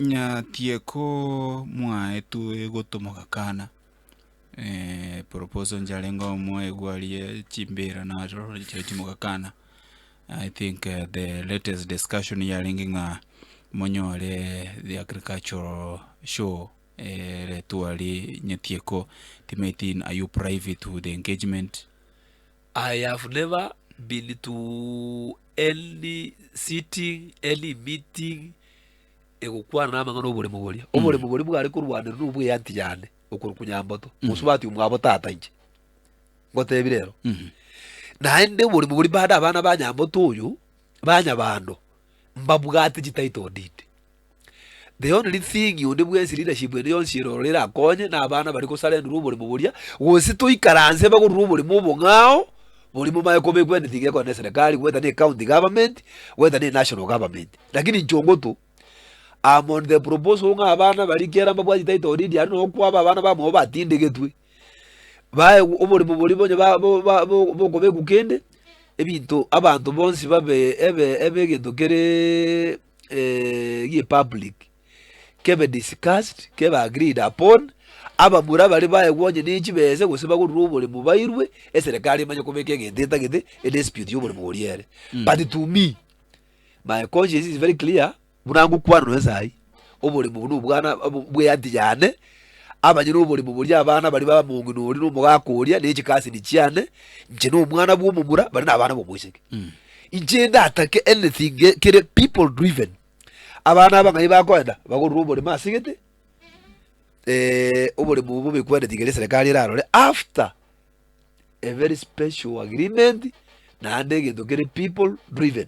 Nyatie ko mwaetwe gotomoka kana, proposal nchiarenge oo mwaigwa aria chimbira naro chiria chimoka kana, I think the latest discussion yarenge ng'a monyore the agricultural show ere tware Nyatie ko, timaeti are you privy to the engagement? I have never been to any sitting, any meeting egokwana namang'ana oboremo boria. Mm. Oboremo boria bware korwanera no bweanti yane okorwa kunyamboto. Mm. Mosubati omwabo tata inche. Ngotebire ero. Mm. Naende oboremo boria bade abana ba nyamboto oyo Banyabando, mbabwate chitaito ndinde. The only thing onde bwensi leadership ende yonsi erororo erakonye na abana bari gosarenurwa oboremo boria gose toikaranse bagorurwe oboremo obong'ao boria momaye kobekwa anything ekore na eserekari whether ne county government whether ne national government lakini inche ongotu am on the proposal ng'a abana baria kera mbabwate title deed aria nabo kwaba abana bamwabo batindegetwe. baegwe oborimo boria bonye ba- bo- ba- bo- bokobekwa kende, ebinto abanto bonsi babe ebe ebe egento kereeee gi'public, kebe discussed, kebe agreed upon, abamura baria baegwa onye ne chibese gose bagorurwa oboremo bairwe, eserekari emanye kobeka egento etagete, edispute y'oboremo oria ere. But to me, my conscience is very clear. Buna ngokwanwa esai, oborimo obo nobwana bw'eanty yane, abanyene oborimo boria abana baria ba mong'ina oria na omogaka oria ne chikasini chiane, inche na omwana bw'omomura bare nabana b'omoiseke. Inche ndatake anything ge- kere people driven. Abana aba ng'ai bakoenda, bagorire oborimo ase gete, eh, oborimo obo bobekwa anything eria eserekari erarore after a very special agreement naende egento kere people driven.